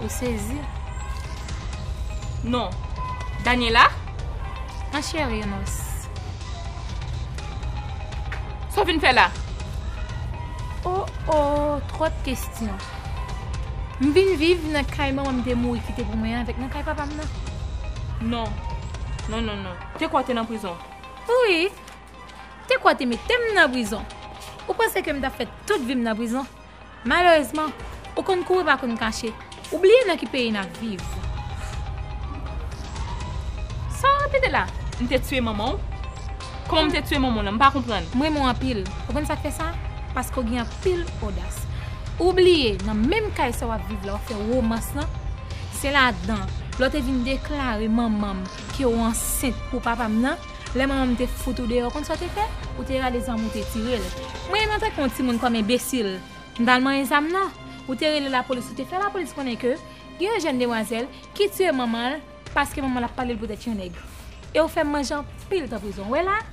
Ou sezi? Non. Daniela? Ma chère Nos. Sa w vin fè la? Oh oh twòp kestyon. M vin viv nan kay manman m te mouri kite pou mwen an avèk nan kay papa m nan. Non. Non non non. Te kwè w te nan prizon. Wi. Te kwè w te mete m nan prizon. Ou panse ke m t ap fè tout vi m nan prizon? Malerezman, ou konn kouri pa konn kache, ou bliye nan ki peyi nap viv. Sa wap repete la? M te tiye manman w? Kòman m te tiye manman w la? M pa konprann. M renmen w anpil. Ou konn sak fè sa? Paske w gen anpil odas. Ou bliye nan menm kay sa wap viv la ou fè romans lan? Se ladan lè w te vin deklare manman m ke w ansent pou papa m nan? Lè manman m te fout ou deyò, ou konn sa w te fè? Ou te rale zam ou te tire l. Mwen, antanke yon timoun, kòm enbesil, m t al manyen zam nan. Ou te rele lapolis, ou te fè lapolis konnen ke gen yon jèn demwazèl ki tiye manman l paske manman l ap pale l poutèt yon nèg. E ou fè m manje anpil tan prizon. Ou wè la a?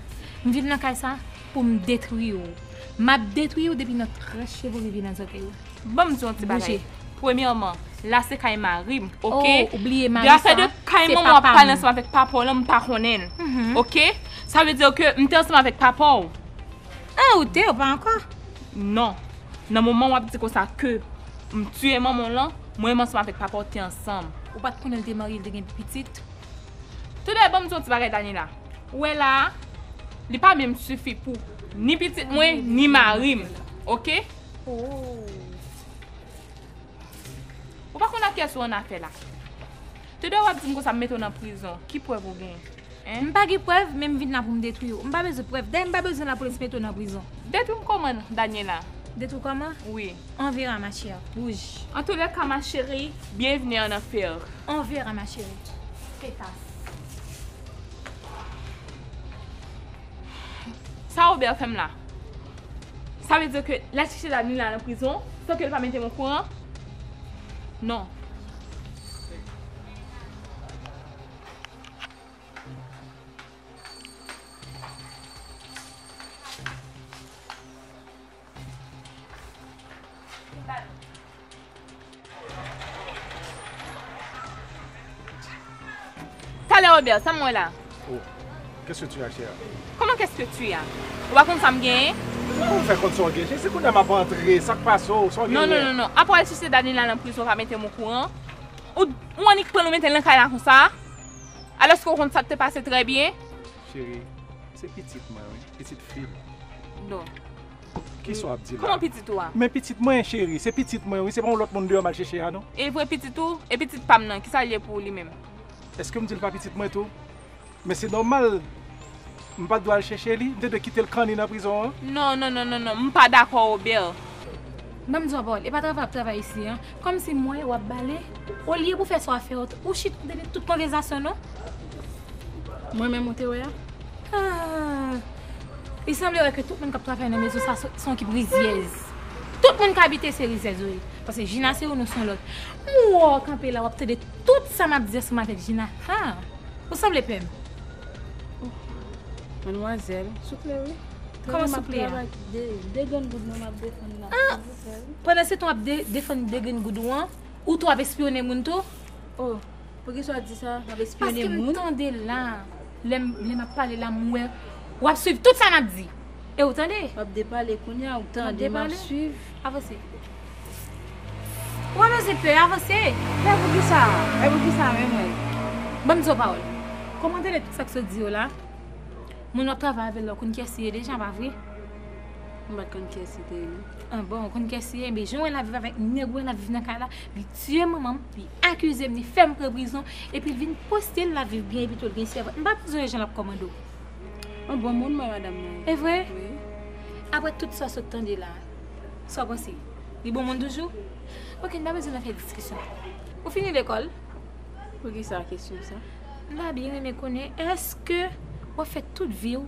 M vin nan kay sa a pou m detwi ou. M ap detwi ou depi nan tranche cheve ou rive nan zòtèy ou. Banm di yon ti bagay Premyèman la se kay marim ok De afè de kay manman wap pale ansanm avèk papa w lan m pa konnen l ok Sa vle di ke m te ansanm avèk papa w An ou te ou pa ankò Non Nan moman wap di konsa ke m tiye manman w lan Mwen menm ansanm avèk papa w te ansanm Ou pat konnen l te marye l te gen pitit Toudè banm di yon ti bagay Daniela Ou wè la a Li pa menm sifi pou ni pitit mwen ni marim ok. Ou pa konn ak kiyès ou an afè la. Te dwe wap dim konsa m mete w nan prizon. Ki prèv ou gen? M pa gen prèv men m vin la pou m detwi w. M pa bezwen prèv. Dayè m pa bezwen lapolis mete w nan prizon. Detwi m kòman n Daniela? Detwi w kòman? Wi. On verra ma chère. Wouj. An tou lè ka ma chérie. Bienvenue en enfer. On verra ma chérie. Fetas. Sa Robert fè m la? Sa vle di ke lal chèche lavi li la nan prizon san ke li pa metem okouran? Non. Talè Robert, sa mwen wè la? Oh, qu'est-ce que tu as chère? Comment qu'est-ce que tu as? Ou pa konn sa m genyen? Kouman pou m fè konn sa w genyen? Se kounya m ap antre, sa k pase w? Sa w genyen? Non, non, non, apre w al sise Dany la nan prizon pa mete m okouran. Ou annik pran l ou mete l nan kay la konsa? Alòske ou konn sa k te pase trè byen? Cheri, se pitit mwen wi, pitit fi m. Non. Kisa w ap di la? Kòman pitit ou a? Men pitit mwen cheri, se pitit mwen wi, se pa yon lòt moun deyò m al chèche a non. Evre pitit ou? E pitit pa m nan, kisa l ye pou ou li menm? Èske m di l pa pitit mwen tou? Men se nòmal, m pa t dwe al chèche li? M te dwe kite l kanni nan prizon an? Non, non, non, non, non, m pa dakò Robert. Ban m di w a pawòl, e pa travay w ap travay isi an, Kòm se mwen wap bale, olye pou fè sa wap fè yo, ou chit depi tout konvèzasyon nou. Mwen menm ou te wè a? Aah! Li sanble wè ke tout moun kap travay nan mezon sa se yon kip rizyèz. Tout moun ki abite se rizyèz yo ye. Pase Jina se yon nou se yon lòt. M wè w kanpe la wap tande tout sa map di ansanm avèk Jina. Haa! Ou sanble pè m. Ohh! Manmwazèl souple wi. Kòman souple a? Travay map travay, 2 grenn goud mwen map defann la. Pandan se tan wap defann degringoud ou an, ou tou ap espyone moun tou? Oh poukisa wap di sa map espyone moun? Paske m tande la, lè map pale la m wè wap swiv tout sa map di e ou tande. Wap depale kounye a ou tande map swiv. Avanse. Ou wè mezi pe, avanse. Mè poukisa, mè poukisa mè mwen. Banm di w yon pawòl. Kòm ou tande tout sa k sot di yo la, moun wap travay avè l la ou konn kiyès li ye deja pa vre? M pat konn kiyès li te ye non. Ah bon ou konn kiyès li ye? Ebyen jan wè lap viv avèk nèg ou wè lap viv nan kay la, li tiye manmanm, li akizem, li fèm pran prizon, epi li vin poste lap viv byen epi tou li gen sèvant. M pa bezwen wè jan lap kòmande w. Yon bon moun m wè madam nan ye. Evre? Wi. Aprè tout sa w sot tande la, sa w panse? Li bon moun toujou? Ok n pa bezwen nan fè diskisyon. Ou fini lekòl? Poukisa kesyon sa? M ta byen renmen konnen èske wap fè tout vi w.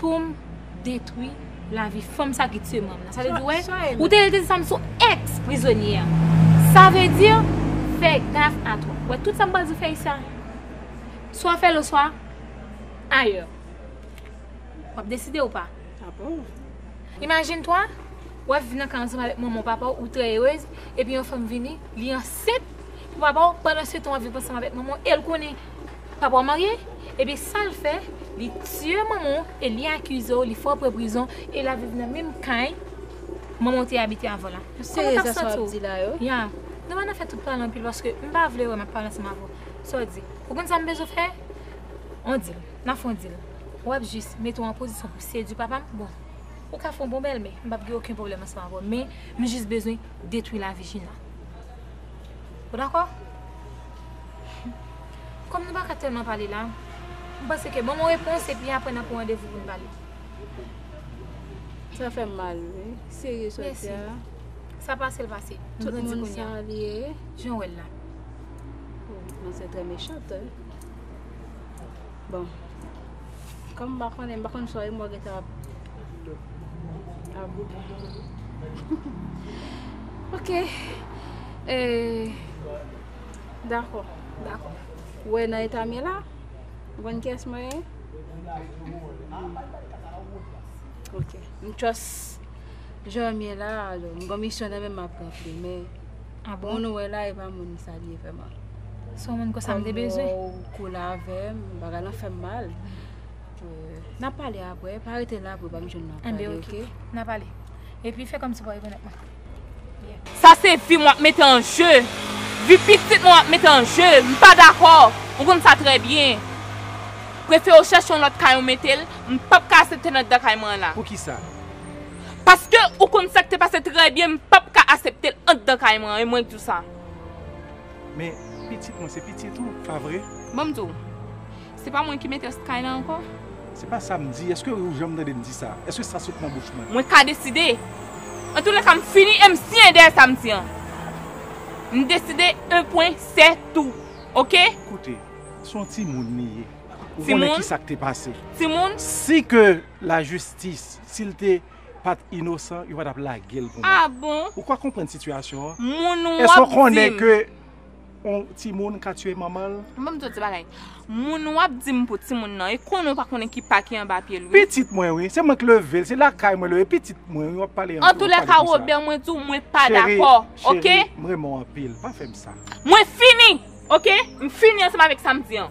poum detwi lavi fanm sa ki tue mom nan sa vle di wè ou te rete sam sou ex prizonye a sa vle di fè gaf a to wè tout sam pral di fè isi a swa fèl oswa ayè wap deside ou pa imajin twa wè viv nan kay ansanm avèk manman ou papa ou trè erez epi yon fanm vini li anset pou papa ou pandan se tan wap viv ansanm avèk manman ou el konnen. Papa w marye? Ebyen sal fè li tiye manman w e li akize w li fè w pran prizon e la viv nan menm kay manman w te abite avan la. Ou serye sa sa wap di la yo? Ya, nou pa nan fè tout pale anpil paske m pa vle wè map pale ansanm avè w. Sa w di? Ou konn sa m bezwen fè? On dil. Na fon dil. Wap jis mete w an pozisyon pou sedwi papa m? Bon. Ou ka fon bon bèlmè. M pap gen oken pwoblèm ansanm avè w men m jis bezwen detwi lavi Jina. Ou dakò? Kòm nou pa ka tèlman pale la, m panse ke ban m yon repons epi aprè n ap pran randevou pou n pale. Sa fè m mal wi, serye sa w di a. Mèsi. Sa pase l pase. Nou grandi kounya. Tout moun sa l ye. Jan w wè l la. Ou kòmanse trè mechant. Bon. Kòm m pa konnen, m pa konn swa e mò gentan ap ap goumen. Ok. E Dakò, dakò. Ou wè nan eta m ye la, ou konn kiyès mwen ye? Ok. M trust jan m ye la, m gen yon misyon nan men m ap ranpli men Ah bon? Moun ou wè la e pa moun sa li ye vrèman. Son moun kon sa m te bezwen. Kòm ou koule avè m, bagay lan fè m mal. Euh, n ap pale apre, pa rete la pou pa m jwenn n ap pale, ok? Anben ok, n ap pale. Epi fè kòm si w pa rekonèt mwen. Sa se vi m w ap mete an je, vi pitit mwen w ap mete an je. M pa dakò, ou konn sa trè byen. Prefere w chèche yon lòt kay ou mete l, m p ap ka asepte nan dan kay mwen an la. Poukisa? Paske ou konn sak te pase trè byen m pap ka aseptel andan kay mwen e mwen k diw sa. Men pitit mwen se pitit ou pa vre? Banm diw. Se pa mwen ki metel st kay lan ankò? Se pa sam di, eske ou janm tandem di sa? Eske sa sot nan bouch mwen? Mwen ka deside. Antoulèka m fini em siyen dèyè sam di an. M deside en pwen sè tou. Ok? Koute, se yon timoun li ye. Ou konnen kisa k te pase. Timoun? Si ke la jistis Sil te pat inosan yo pa tap lagel pou mwen. Ah bon? Ou pa konprann sitiyasyon an? Moun wap dim. Eske ou konnen ke on timoun ka tiye manmanl? Bon banm di w ti bagay. Moun wap dim pou timoun nan e konnen ou pa konnen ki pa ki anba pyel wi. Pitit mwen wi, se mwen k level, se lakay mwen leve pitit mwen wi wap pale anpil wap pale konsa. Antoulèka Robert mwen di w mwen pa dakò ok. Cheri, cheri m renmen w anpil pa fèm sa. Mwen fini ok, m fini ansanm avèk sa m di an.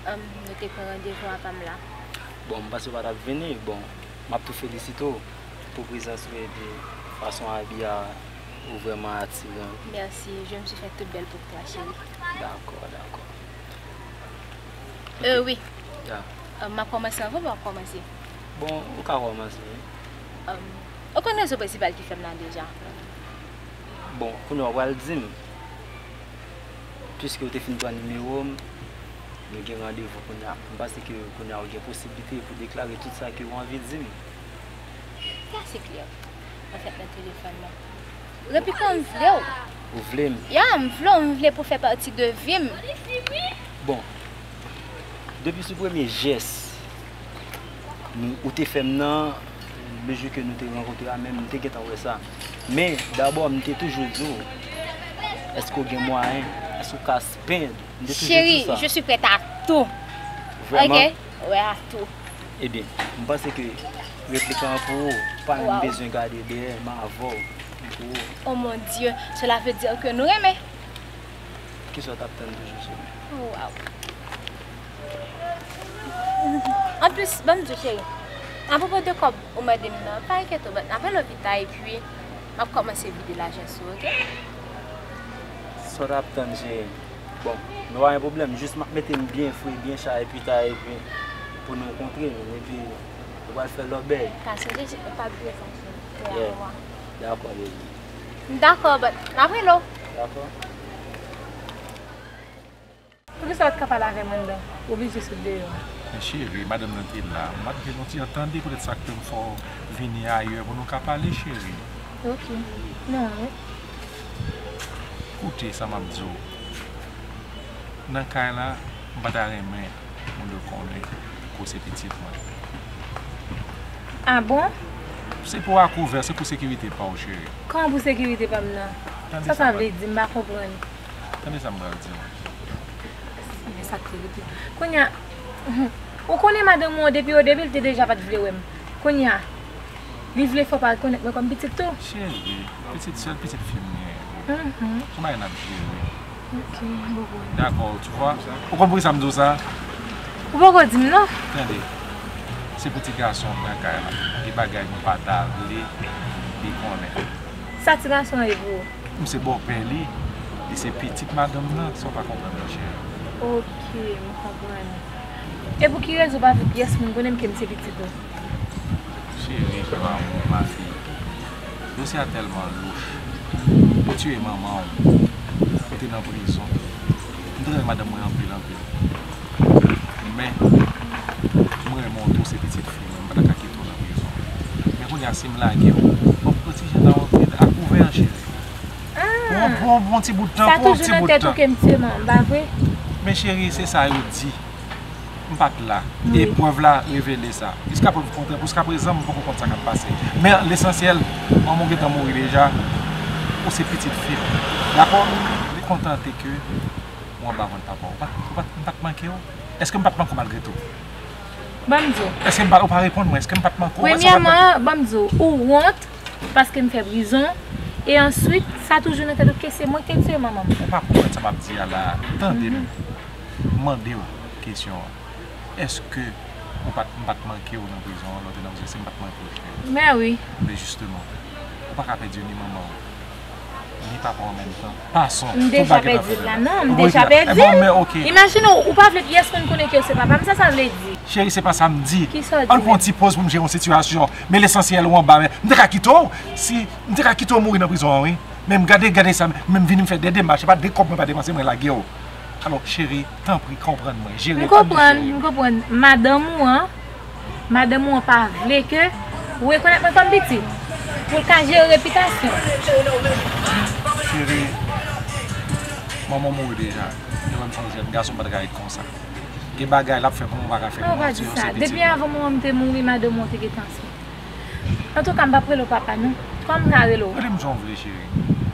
Humm nou te pran randevou a pam la. Bon m panse ou pa tap vini bon map tou felisite w pou prezans ou epi fason abi a ou vrèman atiran. Merci je me suis fait toute belle pour toi chérie. Dakò dakò. Euh wi. Yeah. Map kòmanse anvan pa wap kòmanse? Bon ou ka kòmanse wi. Humm ou konn rezon prensipal ki fèm la deja. Bon kounye a ou pral dim. Piske ou te fin pran nimewo m, nou gen randevou kounye a. M panse ke kounye a ou gen posiblite pou deklare tout sa ke ou anvi di m. Mèsi Cliff. Mwen fèk nan telefòn nan. Repi kan m vle w. Ou vle m? Ya, m vle w. M vle pou w fè pati de vi m. Bon, depi sou premye jès ou te fè m nan, le jou ke nou te rankontre a menm, m te gentan wè sa. Men, dabò, m te toujou di w, Èske ou gen mwayen? Èske ou ka spen? M te toujou di w sa. Cheri, je suis prête à tout. Vrèman? Ok. Wi, à tout. Ebyen, m panse ke replik lan pou ou. Ou pa menm bezwen gade dèyè, m avè w. Li pou ou. O mon Dye! Cela veut dire que nou renmen. Kisa w t ap tann toujou, cheri? Waww. Anplis, banm diw cheri, apropo de kòb ou mande m nan, pa enkyete w, bann apre lopita epi map kòmanse vide lajan sou ou ok. Sa w ta ap tann cheri m. Bon, nou pa gen pwoblèm, jis map mete m byen fre, byen cha epi ta epi pou nou kontre m epi nou pral fè lòbèy. Ta sonje jip mwen pa bliye sa cheri, fè a ou a. Dakò baby. M dakò, bann m ap rele w. Dakò. Poukisa ou t ka pale avèm anndan? Ou oblije sot deyò a. Men cheri, madanm nan te la. M ap gen yon ti entende poutèt sa k fè m fè w vini ayè pou nou ka pale cheri. Ok. Nan an wi. Koute sa m ap di w. Nan kay la, m pa ta renmen moun yo konnen ke w se pitit mwen. A bon? Se pou akouvè, se pou sekirite pa w cheri. Kòman pou sekirite pa m nan? Sa sa vle di? M pa konprann. Tande sa m pral di w. Senyè sa ki rete. Kounya ou konnen madanm ou an depi odebi li te deja pat vle wè m. Kounya li vle fè w pa rekonèt mwen kòm pitit tou. Cheri, pitit sèl pitit fi m genyen. Son bagay n ap jere. Ok bobo. Dakò ou wè. Ou konn poukisa m di w sa? Ou poko di m non. Tande. Se pou ti gason an pran kay la. Gen bagay m pa ta vle li konnen. Sa ti gason an ye pou ou? M se bòpè li, li se pitit madanm nan, sa w pa konprann nan cheri. Ok, m konprann. E pou ki rezon w pa vle pyès moun konnen m ke m se pitit ou? Cheri pran lanmou ma fille. Dosye a tèlman louch. Yo tiye manman w, ou te nan prizon. M te renmen madanm mwen anpil anpil. Men, m renmen w twò, se pitit fi m. Mwen pa ta ka kite w nan prizon. Men kounye a si m lage w, w ap pran ti jan nan yon vid ak ouvè an cheri. Pou yon bon ti bout tan. Sa toujou nan tèt ou ke m se manman, pa vre? Men cheri, se sa yo di. M pa t la. E prèv la revele sa. Jiska prèv kontrè, jiska prezan m poko konn sa k ap pase. Men lesansyèl, manman w gen tan mouri deja, ou se pitit fi m. Dakò? Li kontante ke ou anba vant papa w. M pa t manke w. Eske m pa t manke w malgre tou? Ban m di w. Eske m pa, ou pa reponn mwen, eske m pa t manke w? Premyèman, ban m di w, ou wont paske m fè prizon, e answit, sa toujou nan tèt ou ke se mwen ki te tiye manman m. Ou pa konprann sa m ap di a la a. Tande m mande w kesyon an. Eske ou pa t, m pa t manke w nan prizon an, lè w te nan prizon, eske m pa t manke w, frè? Mè wi. Byen jisteman, ou pa ka pèdi ni manman w. Li pa pran menm tan. Pason. M deja pèdi l la. Non, m deja pèdi l. Bon, men ok. Imajine w, ou pa vle pyès moun konnen ke w se papa m. Sa sa vle di? Cheri, se pa sa m di. Ki sa w di menm? An n pran yon ti poz pou m jere yon sitiyasyon. Men lesansyèl ou anba men. M te ka kite w si, m te ka kite w mouri nan prizon an wi. Men gade, gade sa, men m vini m fè de demach. Se pa de kòb mwen pa depanse mwen lage w. Alò, cheri, tanpri konprann mwen. Jere, tanpri cheri. M konprann, m konprann. Madanm ou an. Madanm ou an pa vle ke ou rekonèt mwen kòm pitit, pou l ka jere repitasyon l. Cheri, manman w mouri deja, li wè m son jèn gason, m pa t ka ret konsa. Gen bagay l ap fè kòman ou pa ka fè pou manti w, se pitit ou. Ou pa di sa, depi avan manman m te mouri, madanm ou an te gen tan sou mwen. Antouka, m pa p rele w papa non, kòman m ka rele w? Rele m jan w vle cheri,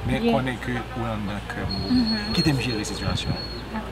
men konnen ke ou anndan kè m boo. Kite m jere sitiyasyon an.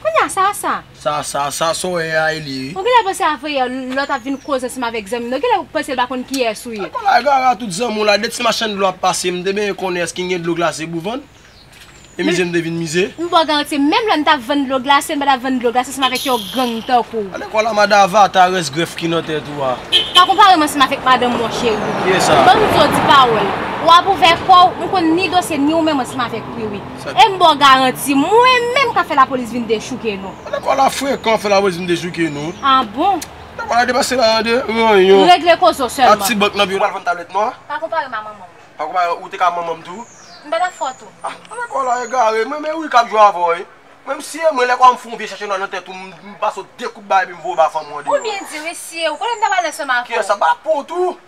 Kounye a, sa a sa? Sa a sa? Sa a sòè a e li wi. Ou genlè panse afeyè lòt ap vin koze ansanm avèk zanmi nan, ou genlè ou panse l pa konn kiyès ou ye. Ala gara tout zanmi w la, de ti machann dlo ap pase m te benyen konnen èske gen dlo glase pou vann, e mize m te vin mize. M ba w garanti, menm lè m ta vann dlo glase, m pa ta vann dlo glase ansanm avèk yon gang tankou w. Alèkò la madan avata rès grèf ki nan tèt ou a. Pa konpare m ansanm avèk madan m mon cheri. Kiyès sa? Ban m zo di pawòl. Ou ap ouvè kò w, m konn ni dosye ni ou menm ansanm avèk li wi. E m baw garanti mwen menm ka fè lapolis vin dechouke nou. Ou nan kò la frekan fè lapolis vin dechouke nou. Ah bon. Nan kò la depase la de ranyon. Regle kozo selman. Ak ti bank nan pi ou pral vann tablèt nou a. Pa konpare m a manman m. Pa konpare ou te ka manman m tou. M pa ta fò tou. Ah nan kò la egare. M renmen wi kap jwe avè w wi. Menm si e mwen lè konnya m fè yon vye chèche nwa nan tèt ou m pase w de kout baye epi m voye w ba fanm ou an deyò. Ou byen di wi si e ou konnen m ta pral lè sèm avè w. Kiyès sa pa pou w tou.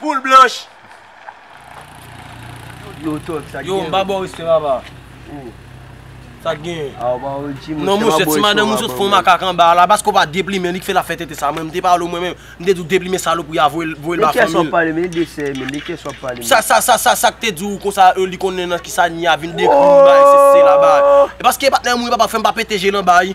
Poul blanch. Yo Tòg sak genyen. Yo mpa baw respè papa. Ou. Sak genyen. A ou pa wè Jimmy. Non monchè ti madanm ou sot fon makak anba a la paske ou pa deplimen li ki fè lap fè tenten sa mwen mte pale ou mwen menm mte di ou deplimen salopri a voyel voyel ba fanmil. De kyes wap pale menm de sè menm de kyes wap pale menm. Sa sa sa sak te di ou konsa e li konnen nan kisa Nia vin deplimen bay se se la bay. Paske patnè mwen papa fèm pa pete je nan bay.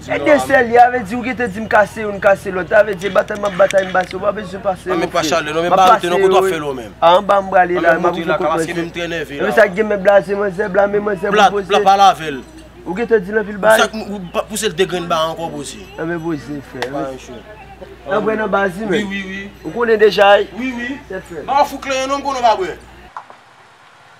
Ti de sè li a vle di ou gen te di m kase youn kase lòt a vle di e batay map batay m pase ou pa bezwen pase non frem map pase yo wi a anba m prale la map rive kot manzè epi sa ki gen men blaze manzè blame manzè pou poze ou gen te di l anpil bagay anben poze frè nan bwè nan baz li menm ou konnen deja wi tèt frèt.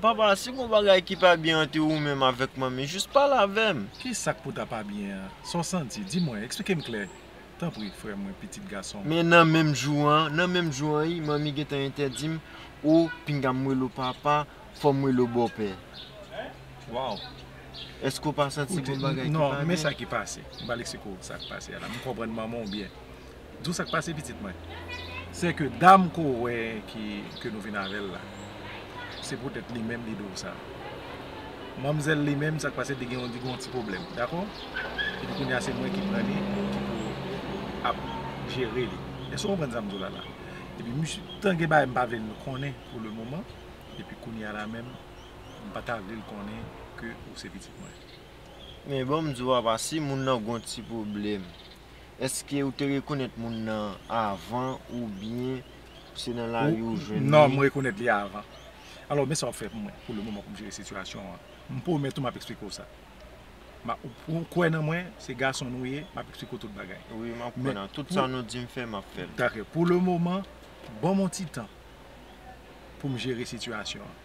Papa, si gon bagay ki pa byen ante ou menm avèk manmi, jis pale avè m. Ki sa k pou ta pa byen an? Sa w santi? Di mwen, eksplike m klè, tanpri, frè mwen, pitit gason m. Men nan menm jou an, nan menm jou an wi, manmi gen tan entèdi m, O, pinga m rele w papa, fò m rele w bòpè. Waw! Èske w pa santi gon bagay ki pa byen? Non, men sa ki pase. M pral eksplike w sa k pase a la. M konprann manman w byen. Di w sa k pase pitit mwen? Se ke dam ke w wè ke nou vin avè l la, se poutèt li menm li di w sa. Manmzèl li menm, sa k pase li gen yon ti pwoblèm, dakò? Epi kounye a se mwen ki pran li, ki pou ap jere li. Èske w konprann sa m di w la la? Epi misye, tan gen bagay m pa vle l konnen pou le moman, epi kounye a la menm, m pa ta vle l konnen ke ou se pitit mwen. Men, ban m di w apa, si moun nan gen yon ti pwoblèm. Eske ou te rekonèt moun nan avan oubyen se nan lari ou jwenn li? Non, m rekonèt li avan. Alò, men sa w ap fè pou mwen pou le moman pou m jere sitiyasyon an. M pwomèt ou m ap eksplike w sa. Ou kwè nan mwen, se gason nou ye, m ap eksplike w tout bagay. Wi, m ap kwè nan tout sa nou di m fè, m ap fè l. Dake, pou le moman, ban m yon ti tan pou m jere sitiyasyon an.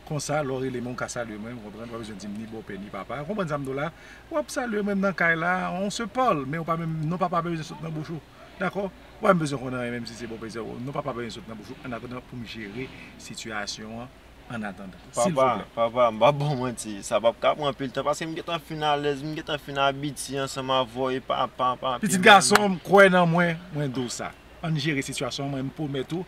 Konsa lè w rele mwen ou ka salye mwen, ou konprann, ou pa bezwen di m ni bòpè ni papa. Ou konprann sa m di w la? W ap salye mwen, m nan kay la, on se parle, men ou pa menm, non papa pa bezwen sot nan bouch ou. Dakò? Ou pa menm bezwen konn anyen menm si se bòpè se bòpè, non papa pa bezwen sot nan bouch ou annatandan pou m jere sitiyasyon an annatandan. Papa, papa, m pa ba w manti, sa pap ka pran anpil tan paske m gentan fin alèz, m gentan fin abitye ansanm avè w e papa, papi. Pitit gason m, kwè nan mwen, mwen di w sa. Ann jere sitiyasyon an, mwen m pwomèt ou,